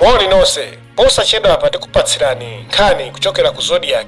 moni nonse posachedwapa tikupatsirani nkhani kuchokera ku zodiak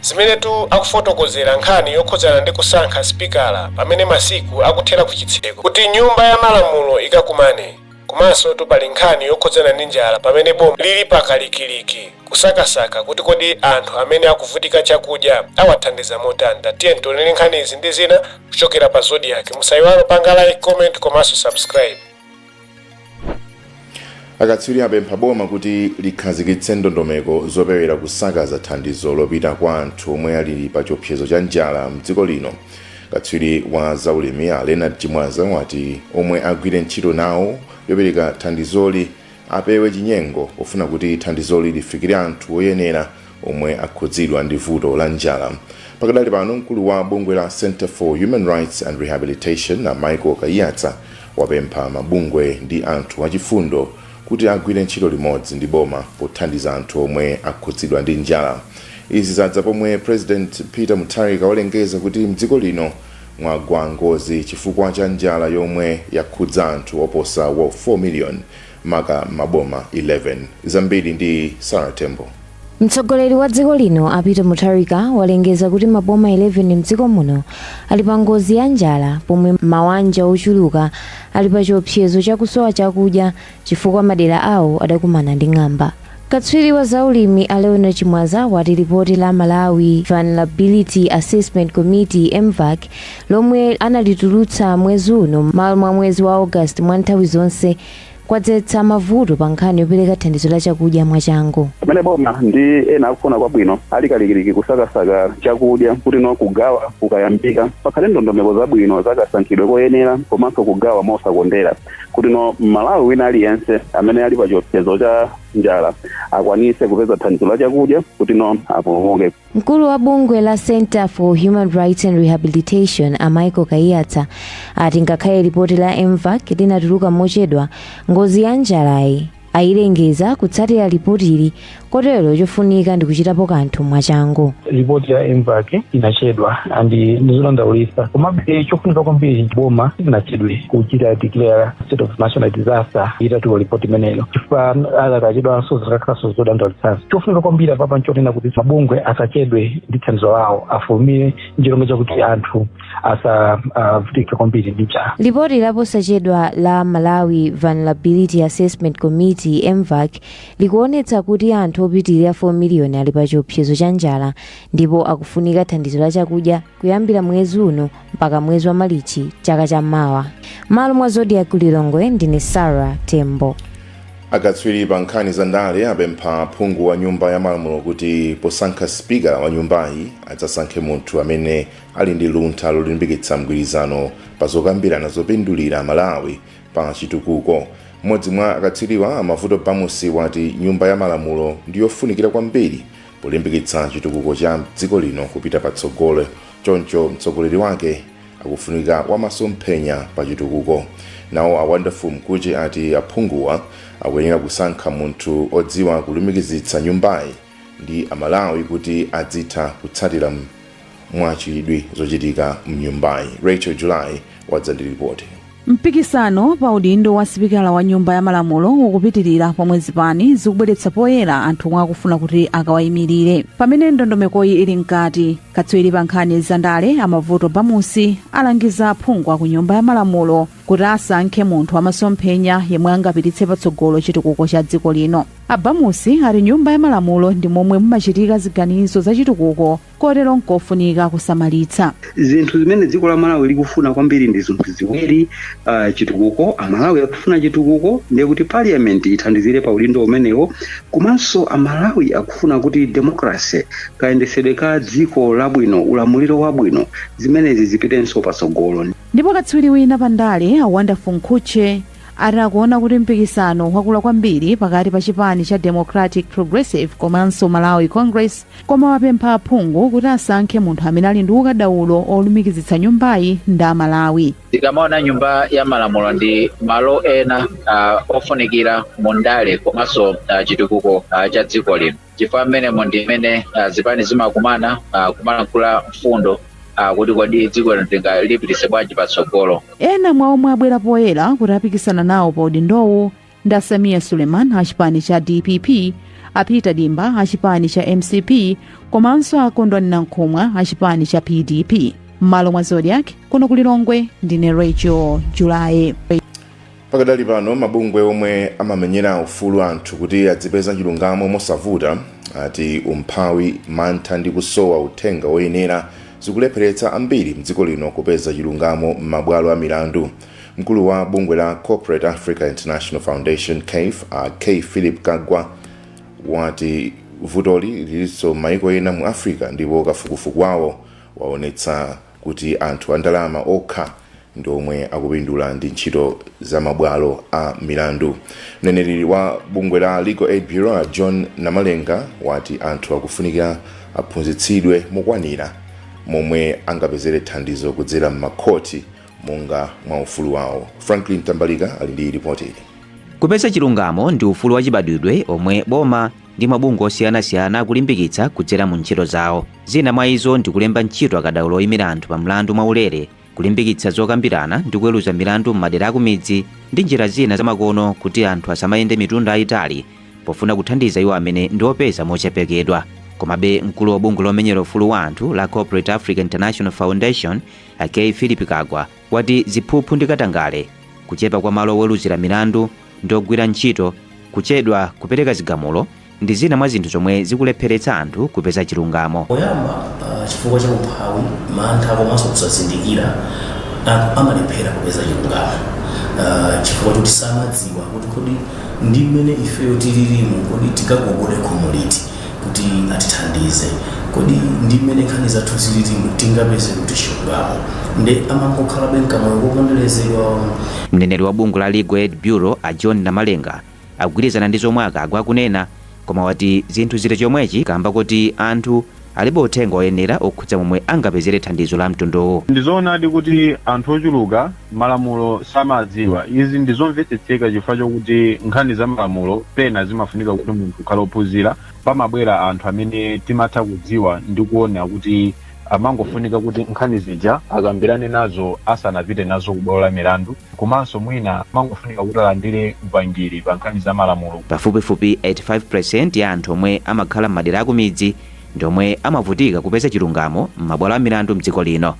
zimenetu akufotokozera nkhani yokhudzana ndi kusankha sipikala pamene masiku akuthera ku chitseko kuti nyumba ya malamulo ikakumane Komansotu pali nkhani yokhudzana ndi njala pamene boma lili pakalikiliki kusakasaka kuti kodi anthu amene akuvutika chakudya awathandiza motani? Tiyeni tionere nkhani izi ndi zina kuchokera pa Zodiak. Musaiwale kupanga like, comment komanso subscribe. Akatswiri apempha boma kuti likhazikitse ndondomeko zopewera kusakaza thandizo lopita kwa anthu omwe ali pachiopsezo cha njala m'dziko lino. Katswiri wa zaulimi a Leonard Chimwaza wati omwe agwire ntchito nawo yopereka thandizoli apewe chinyengo pofuna kuti thandizoli lifikire anthu oyenera omwe akhudzidwa ndi vuto la njala. Pakadali pano mkulu wa bungwe la Centre for Human Rights and Rehabilitation a Michael Kaiyatsa wapempha mabungwe ndi anthu achifundo kuti agwire ntchito limodzi ndi boma pothandiza anthu omwe akhudzidwa ndi njala. Izi zadza pomwe President Peter Mutharika walengeza kuti mdziko lino mwagwa ngozi chifukwa cha njala yomwe yakhudza anthu oposa 4 million maka m'maboma 11. Zambiri ndi Sarah Tembo. Mtsogoleri wa dziko lino a Peter Mutharika walengeza kuti maboma 11 mdziko muno ali pa ngozi ya njala pomwe mawanja ochuluka ali pa chiopsezo cha kusowa chakudya chifukwa madera awo adakumana ndi ng'amba. Katswiri wa za ulimi a Leonard Chimwaza wati lipoti la Malawi Vulnerability Assessment Committee, MVAC, lomwe analitulutsa mwezi uno mmalo mwa mwezi wa August mwa nthawi zonse, kwadzetsa mavuto pa nkhani yopereka thandizo la chakudya mwachangu. Pamene boma ndi ena akufuna kwabwino ali kalikiliki kusakasaka chakudya kuti no kugawa kukayambika pakhale ndondomeko zabwino za kasankhidwe koyenera komanso kugawa mosakondera kuti no Mmalawi wina aliyense amene ali pa chiopsezo cha njala akwanise kupeza thandizo la chakudya kuti no apulumuke. Mkulu wa bungwe la Center for Human Rights and Rehabilitation a Michael Kaiyatsa ati ngakhale lipoti la MVAC linatuluka mochedwa ngozi ya njalayi ayilengeza kutsatira lipotili kotero chofunika ndi kuchitapo kanthu mwachangu ripoti ya MVAC inachedwa and ndizodandaulitsa komabe chofunika kwambiri boma silinachedwe kuchita declare state of national disaster itatuluka ripoti imeneyo chifukwa akakachedwanso zikakhalanso zodandaulitsanso chofunika kwambiri apapa nchonena kuti mabungwe asachedwe ndi thandizo lawo afulumire ncholinga chakuti anthu asavutike kwambiri ndi njala lipoti laposachedwa la malawi vulnerability assessment committee mvac likuonetsa kuti anthu opitirira 4 miliyoni ali pa chiopsezo cha njala ndipo akufunika thandizo la chakudya kuyambira mwezi uno mpaka mwezi wa malichi chaka cha mawa m'malo mwa zodiak lilongwe ndine sara tembo akatswiri pa nkhani za ndale apempha aphungu wa nyumba ya malamulo kuti posankha sipikala wa nyumbayi adzasankhe munthu amene ali ndi luntha lolimbikitsa mgwirizano pa zokambirana zopindulira malawi pa chitukuko mmodzi mwa akatswiriwa a mavuto bamusi wati nyumba ya malamulo ndi yofunikira kwambiri polimbikitsa chitukuko cha dziko lino kupita patsogolo Choncho mtsogoleri wake akufunika wamasomphenya pa chitukuko. Nawo a Wonderful Mkhutche ati aphunguwa akuyenera kusankha munthu odziwa kulumikizitsa nyumbayi ndi a Malawi kuti adzitha kutsatira mwachidwi zochitika mnyumbayi. Rachel July wadza ndi lipoti. Mpikisano pa udindo wa sipikala wa nyumba ya malamulo ukupitilira pomwe zipani zikubweretsa poyera anthu omwe akufuna kuti akawaimilire. Pamene ndondomekoyi ili mkati, katswiri pa nkhani za ndale a Mavuto Bamusi alangiza aphungu a ku nyumba ya malamulo kuti asankhe munthu wa masomphenya yemwe angapititse patsogolo chitukuko cha dziko lino. A Bamusi ati nyumba ya malamulo ndi momwe mumachitika ziganizo za chitukuko kotero nkofunika kusamalitsa. Zinthu zimene dziko la Malawi likufuna kwambiri ndi zinthu ziwiri, uh, chitukuko. Amalawi akufuna chitukuko, ndiye kuti parliament ithandizire pa udindo umenewo, komanso Amalawi akufuna kuti democracy, kayendetsedwe ka dziko labwino, ulamuliro wabwino, zimenezi zipitenso patsogolo. Ndipo katswiri wina pa ndale, a Wonderful Mkhutche, ati akuona kuti mpikisano wakula kwambiri pakati pa chipani cha Democratic Progressive komanso Malawi Congress, koma wapempha aphungu kuti asankhe munthu amene ali ndi ukadaulo olumikizitsa nyumbayi ndi a Malawi. Tikamaona nyumba ya malamulo ndi malo ena uh, ofunikira mu ndale komanso uh, chitukuko uh, cha dziko lino chifukwa mmenemo ndi mmene uh, zipani zimakumana uh, kumalankhula mfundo uh, kuti kodi dziko lino tingalipitise bwanji patsogolo Ena mwa omwe abwera poyera kuti apikisana nawo pa udindowu ndi a sameer suleiman a chipani cha dpp a peter dimba a chipani cha mcp komanso a kondwani nankhumwa a chipani cha pdp m'malo mwa zodiak kuno ku lilongwe ndine rachel july pakadali pano mabungwe omwe amamenyera ufulu anthu kuti adzipeza chilungamo mosavuta ati umphawi mantha ndi kusowa uthenga woyenera zikulepheretsa ambiri mdziko lino kupeza chilungamo m'mabwalo a milandu Mkulu wa bungwe la Corporate Africa International Foundation, CAIF, a K. Phillip Kagwa wati vutoli lilinso m'maiko ena mu Africa ndipo kafukufuku wawo waonetsa kuti anthu andalama okha ndi omwe akupindula ndi ntchito za mabwalo a milandu. Mneneri wa bungwe la Legal Aid Bureau a John Namalenga wati anthu akufunika aphunzitsidwe mokwanira momwe angapezere thandizo kudzera m'makhoti monga mwa ufulu wawo. Franklin Mtambalika ali ndi lipoti ili. Kupeza chilungamo ndi ufulu wachibadwidwe omwe boma ndi mabungwe osiyanasiyana akulimbikitsa kudzera mu ntchito zawo. Zina mwa izo ndi kulemba ntchito akadaulo oyimira anthu pa mlandu mwaulere, kulimbikitsa zokambirana ndi kuweruza milandu m'madera akumidzi ndi njira zina zamakono kuti anthu asamayende mitunda yayitali pofuna kuthandiza iwo amene ndi opeza mochepekedwa. Komabe, mkulu wa bungwe lomenyera ufulu wa anthu la Corporate Africa International Foundation A K Phillip Kagwa wati ziphuphu ndi katangale, kuchepa kwa malo oweluzira milandu ndi ogwira ntchito, kuchedwa kupereka zigamulo ndi zina mwa zinthu zomwe zikulepheretsa anthu kupeza chilungamo. Poyamba ah, chifukwa cha umphawi, mantha komanso kusazindikira, anthu amalephera kupeza chilungamo Ah, chifukwa choti samadziwa kuti kodi ndi mmene ifeyo tililimu kodi tikagogode khomo liti kuti atithandize. Kodi ndi mmene nkhani zathu zililimu, tingapeze kuti chilungamo? Nde amangokhalabe m'kamoyo koponderezedwa umu. Mneneri wa bungwe la Legal Aid Bureau, a John Namalenga, akugwirizana ndi zomwe a Kagwa akunena, koma wati zinthu zili chomwechi kaamba koti anthu alibe uthenga oyenera okhudza momwe angapezere thandizo la mtunduwu. Ndi zoonadi kuti anthu ochuluka malamulo samadziwa. Izi ndi zomvetsetseka chifukwa chokuti nkhani za malamulo pena zimafunika kuti munthu ukhale ophunzira. Pamabwera anthu amene timatha kudziwa ndi kuona kuti amangofunika kuti nkhani zija akambirane nazo asanapite nazo ku bwalo la milandu, komanso mwina amangofunika kuti alandire upangiri pa nkhani za malamulo. Pafupifupi 85% ya anthu omwe amakhala m'madera akumidzi ndi omwe amavutika kupeza chilungamo m'mabwalo a milandu m'dziko lino.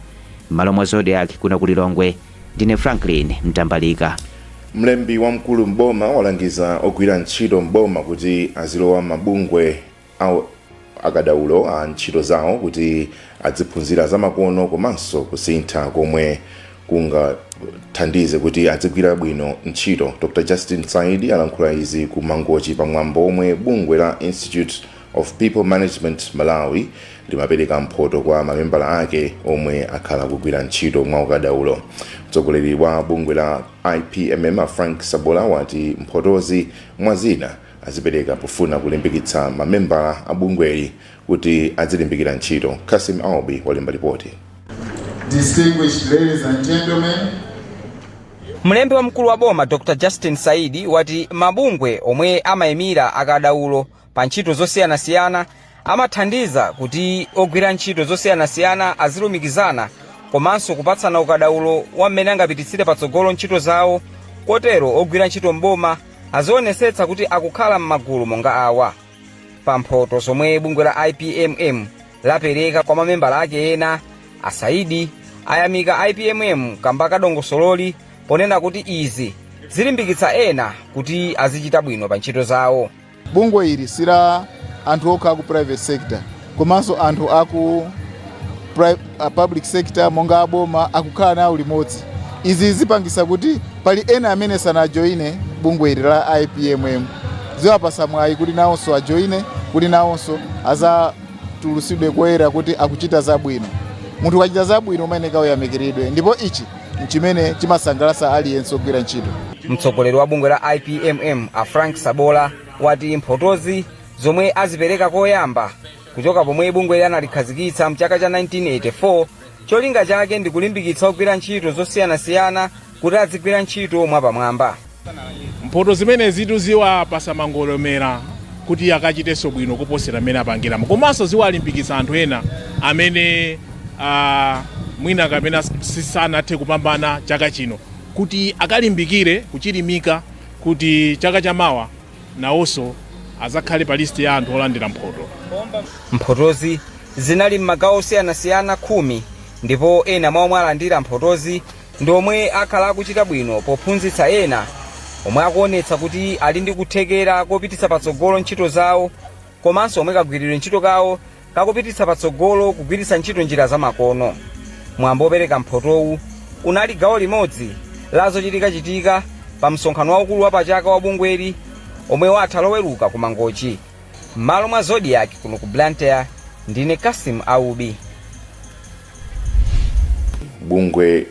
M'malo mwa Zodiak kuno ku Lilongwe, ndine Franklin Mtambalika. Mlembi wamkulu m'boma walangiza ogwira ntchito m'boma kuti azilowa m'mabungwe a akadaulo a ntchito zawo kuti adziphunzira zamakono komanso kusintha komwe kungathandize kuti adzigwira bwino ntchito. Dr Justin Saidi alankhula izi ku Mangochi pa mwambo womwe bungwe la Institute of People Management Malawi limapereka mphoto kwa mamembala ake omwe akhala kugwira ntchito mwaukadaulo. Mtsogoleri wa bungwe la IPMM Frank Sabola wati mphotozi mwa zina azipereka pofuna kulimbikitsa mamembala a bungweli kuti azilimbikira ntchito. Kasim Aubi walemba lipoti. Distinguished ladies and gentlemen, Mlembi wamkulu wa boma Dr Justin Saidi wati mabungwe omwe amayimira akadaulo pa ntchito zosiyanasiyana amathandiza kuti ogwira ntchito zosiyanasiyana azilumikizana komanso kupatsana ukadaulo wa mmene angapititsire patsogolo ntchito zawo kotero ogwira ntchito m'boma azionesetsa kuti akukhala m'magulu monga awa pa mphoto zomwe bungwe la ipmm lapereka kwa mamembala ake ena asaidi ayamika ipmm kamba ka dongosololi ponena kuti izi zilimbikitsa ena kuti azichita bwino pa ntchito zawo bungwe ili si la anthu okha aku private sector komanso anthu aku pri- a public sector monga aboma akukhala nawo limodzi izi zipangisa kuti pali ena amene sanajoine bungwe ili la ipmm ziwapasa mwayi kuti nawonso ajoine kuti nawonso azatulusidwe koyera kuti akuchita zabwino munthu ukachita zabwino umayeneka uyamikiridwe ndipo ichi n'chimene chimasangalatsa aliyense ogwira ntchito. Mtsogoleri wa bungwe la IPMM a Frank Sabola wati mphotozi zomwe azipereka koyamba kuchoka pomwe bungweli analikhazikitsa mchaka cha 1984 cholinga chake ndi kulimbikitsa ogwira ntchito zosiyanasiyana kuti azigwira ntchito mwapamwamba. Mphoto zimenezitu ziwapasa mangolomera kuti akachitenso bwino kuposera mmene apangiramu komanso ziwalimbikitsa anthu ena amene mwina kapena sanathe kupambana chaka chino kuti akalimbikire, kuchilimika kuti chaka chamawa nawonso azakhale pa lisiti ya anthu olandira mphoto. Mphotozi zinali m'magawo osiyanasiyana khumi ndipo ena mwa omwe alandira mphotozi ndi omwe akhala akuchita bwino pophunzitsa ena omwe akuonetsa kuti ali ndi kuthekera kopititsa patsogolo ntchito zawo komanso omwe kagwiridwe ntchito kawo kakupititsa patsogolo kugwiritsa ntchito njira zamakono mwambo wopereka mphotowu unali gawo limodzi la zochitikachitika pa msonkhano waukulu wa pachaka wa bungweli omwe watha loweruka ku mangochi m'malo mwa zodiak kuno ku blantyre ndine kasim aubi Bungwe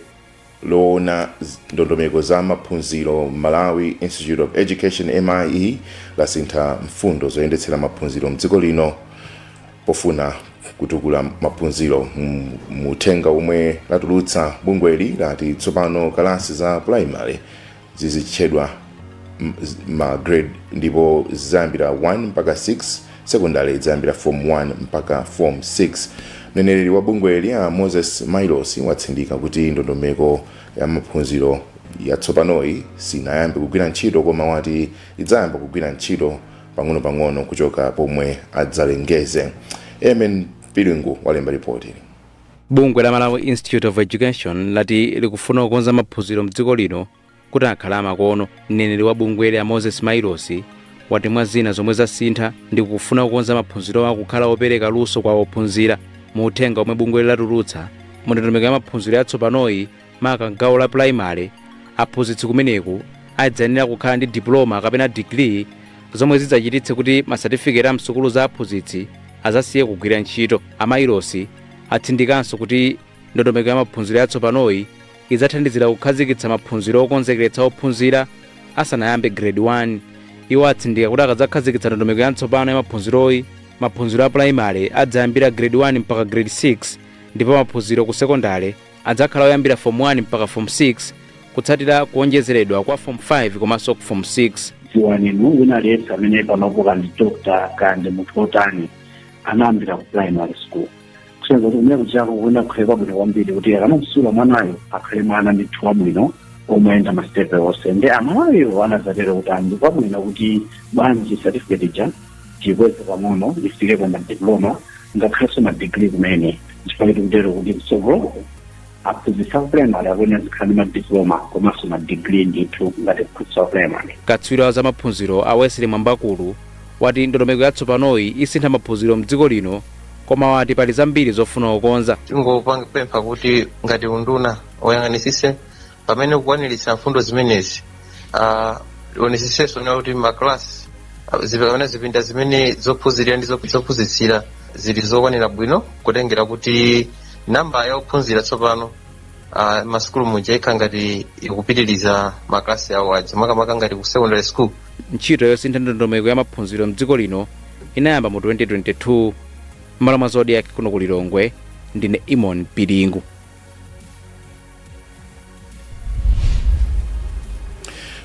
lowona ndondomeko za maphunziro la Malawi Institute of Education, mie, lasintha mfundo zoyendetsera maphunziro mdziko lino pofuna kutukula maphunziro. Mu uthenga womwe latulutsa, bungweli lati tsopano kalasi za pulayimale zizitchedwa ma grade ndipo zizayambira 1 mpaka 6 sekondale idzayambira form 1 mpaka form 6 mneneri wa bungweli a moses mailosi watsindika kuti ndondomeko ya maphunziro yatsopanoyi sinayambe kugwira ntchito koma wati idzayamba kugwira ntchito pang'onopang'ono kuchoka pomwe adzalengeze eamon piringu walemba ripoti bungwe la malawi institute of education lati likufuna kukonza maphunziro mdziko lino kuti akhale amakono mneneri wa bungweli a moses mailosi wati mwa zina zomwe zasintha ndi kufuna kukonza maphunzirowa kukhala opereka luso kwa ophunzira mu uthenga omwe bungweli latulutsa mundondomeko ya maphunziro yatsopanoyi maka m'gawo la pulayimale aphunzitsi kumeneku adzayenera kukhala ndi diploma kapena digiri zomwe zidzachititse kuti masatifiketi a msukulu za aphunzitsi azasiye kugwira ntchito a mailosi atsindikanso kuti ndondomeko ya maphunziro yatsopanoyi idzathandizira kukhazikitsa maphunziro okonzekeretsa ophunzira asanayambe grade 1 iwo atsindika kuti akadzakhazikitsa ndondomeko yatsopano ya maphunziroyi maphunziro a pulayimale adzayambira grade 1 mpaka grade 6 ndipo maphunziro ku sekondale adzakhala oyambira Form 1 mpaka Form 6 kutsatira kuonjezeredwa kwa Form 5 komanso ku Form 6. dziwani inu wina aliyense amene panopo kaya ndi doctor kaya ndi munthu wotani anayambira ku primary school kusonyeza kuti kumene kujako kuyenera kukhale kwabwino kwambiri kuti akamamsula mwanayo akhale mwana ndithu wabwino omayenda masitepe onse ndi amalawi anadzatero kuti ndi kwabwino kuti bwanji certificate ija tiikweze pang'ono ifike pa madiploma ngakhalenso madigiri kumene chifukwa tikutero kuti mtsogolo aphunzitsi a primary akuyenera azikhala ndi madiploma komanso madigiri ndithu ngati aphunzitsi a primary katswiri wa zamaphunziro a wesley mwambakulu wati ndondomeko yatsopanoyi isintha maphunziro mdziko lino koma wati pali zambiri zofuna kukonza tingopempha kuti ngati unduna ayang'anitsitse pamene akukwaniritsa mfundo zimenezi ah, aonetsetsenso kuti maklasi zipamene zipinda zimene zophunzirira ndi zophunzitsira zili zokwanira bwino kutengera kuti namba ya ophunzira tsopano ah, masukulu muja ikhala ngati ikupitiriza maklasi awo aja makamaka ngati ku secondary school ntchito yosintha ndondomeko ya maphunziro mdziko lino inayamba mu 2022 m'malo mwa zodiak kuno ku lilongwe ndine eamon piringu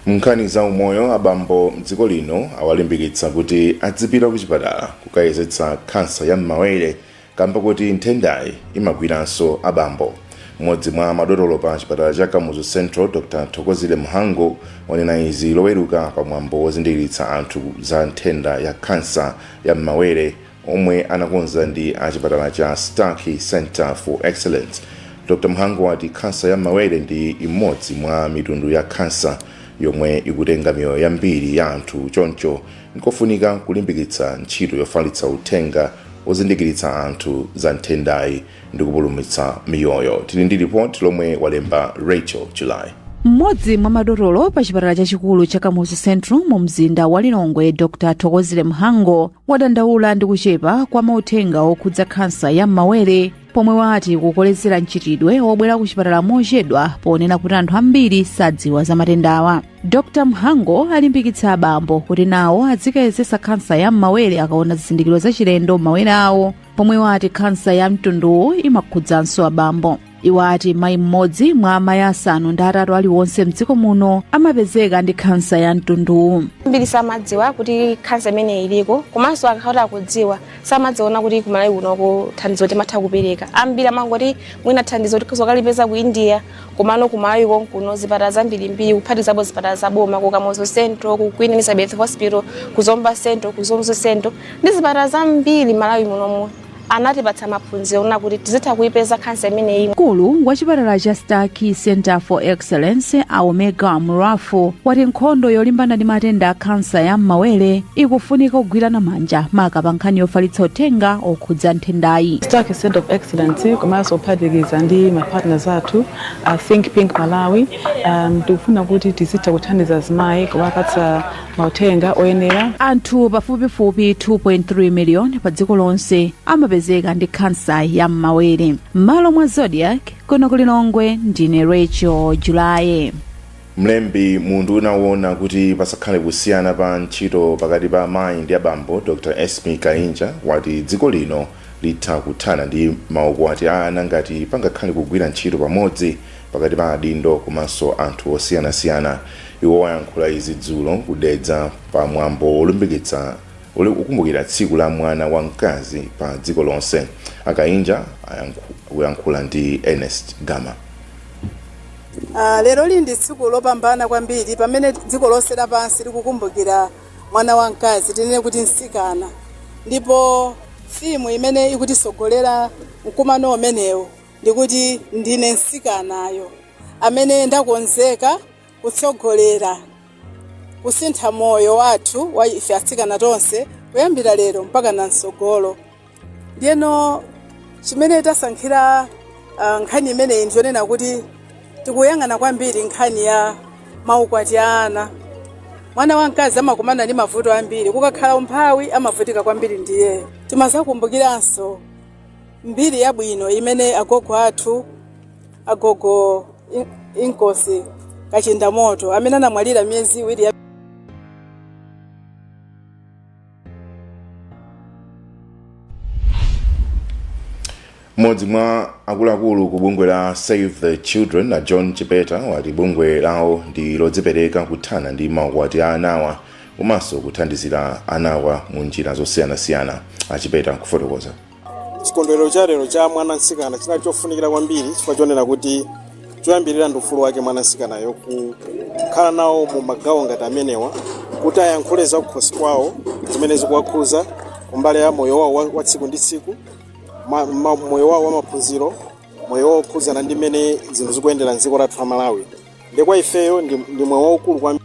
nkhani za umoyo abambo mdziko lino awalimbikitsa kuti adzipita ku chipatala kukayezetsa kansa ya m'mawere kamba kuti nthendayi imagwiranso abambo mmodzi mwa madotolo pa chipatala cha kamuzu central dr thokozile mhango wanena izi loweruka pa mwambo wozindikiritsa anthu za nthenda ya kansa ya m'mawere omwe anakonza ndi a chipatala cha Starkey Centre for Excellence. Dr. Mhango wati khansa ya m'mawere ndi imodzi mwa mitundu ya khansa yomwe ikutenga miyoyo yambiri ya anthu choncho nkofunika kulimbikitsa ntchito yofalitsa uthenga ozindikiritsa anthu za nthendayi ndi kupulumutsa miyoyo tili ndi lipoti lomwe walemba rachel july mmodzi mwa madotolo pa chipatala chachikulu cha kamuzu central mu mzinda wa lilongwe dr thokozile mhango wadandaula ndi kuchepa kwa mauthenga okhudza khansa ya m'mawere pomwe wati kukolezera mchitidwe wobwera ku chipatala mochedwa ponena kuti anthu ambiri sadziwa za matendawa dr mhango alimbikitsa abambo kuti nawo adzikayezetsa khansa ya m'mawere akaona zizindikiro zachilendo m'mawere awo pomwe wati khansa ya mtunduwu imakhudzanso abambo iwo ati mayi mmodzi mwa amayi asanu ndi atatu aliwonse mdziko muno amapezeka ndi khansa ya mtunduwu ambiri samadziwa kuti khansa imeneyi iliko komanso akakhala akudziwa samadziwa kuti ku malawi kunoko thandizo timatha kupereka ambiri amangoti mwina thandizo tizikalipeza ku india komano ku malawi konkuno zipatala zambirimbiri kuphatizapo zipatala za boma ku kamuzu central ku queen elizabeth hospital ku zomba central ku mzuzu central ndi zipatala zambiri malawi munomu anatipatsa maphunziro onena kuti tizitha kuipeza khansa imeneyi mkulu wa chipatala cha starkey center for excellence a omega murafu wati nkhondo yolimbana ndi matenda a khansa ya m'mawere ikufunika kugwirana manja maka pa nkhani yofalitsa uthenga okhudza nthendayi Starkey Center of Excellence komanso kuphatikiza ndi ma partners athu a Think Pink Malawi um, tikufuna kuti tizitha kuthandiza azimayi kuwapatsa mauthenga oyenera anthu pafupifupi 2.3 miliyoni pa dziko lonse amapezeka ndi khansa ya m'mawere m'malo mwa zodiak kuno ku lilongwe ndine rachel july mlembi mu unduna woona kuti pasakhale kusiyana pa ntchito pakati pa amayi ndi abambo dr esmie kainja wati dziko lino litha kuthana ndi maukwati a ana ngati pangakhale kugwira ntchito pamodzi pakati pa adindo komanso anthu osiyanasiyana. Iwo ayankhula izi dzulo ku Dedza pa mwambo wolimbikitsa wokumbukira tsiku la mwana wa mkazi pa dziko lonse. A Kainja akuyankhula ndi Ernest Gama. Leroli ndi tsiku lopambana kwambiri pamene dziko lonse lapansi likukumbukira mwana wamkazi, tinene kuti mtsikana. Ndipo theme imene ikutitsogolera mkumano umenewu ndikuti ndine mtsikanayo amene ndakonzeka kutsogolera kusintha moyo wathu wa ife atsikana tonse kuyambira lero mpakana mtsogolo. ndiyeno chimene tasankhira ah, nkhani imeneyi ndiyonena kuti tikuyang'ana kwambiri nkhani ya maukwati a ana mwana wamkazi amakumana ndi mavuto ambiri kukakhala umphawi amavutika kwambiri ndiye timazakumbukiranso mbiri yabwino imene agogo athu agogo In- inkosi kachindamoto amene anamwalira miyezi iwiri ya mmodzi mwa akuluakulu ku bungwe la save the children a john chipeta wati bungwe lawo ndi lodzipereka kuthana ndi maukwati a anawa komanso kuthandizira anawa mu njira zosiyanasiyana achipeta kufotokoza chikondwerero cha lero cha mwana mtsikana chinali chofunikira kwambiri chifukwa chonena kuti choyambirira ndi ufulu wake mwana mtsikanayo kukhala nawo mu magawo ngati amenewa kuti ayankhule za kukhosi kwawo zimene zikuwakhuza kumbali ya moyo wawo wa- wa tsiku ndi tsiku ma- ma- moyo wawo wa maphunziro moyo wawo okhudzana ndi mmene zinthu zikuyendera mdziko lathu la malawi nde kwa ifeyo ndi ndi mwayi waukulu kwambiri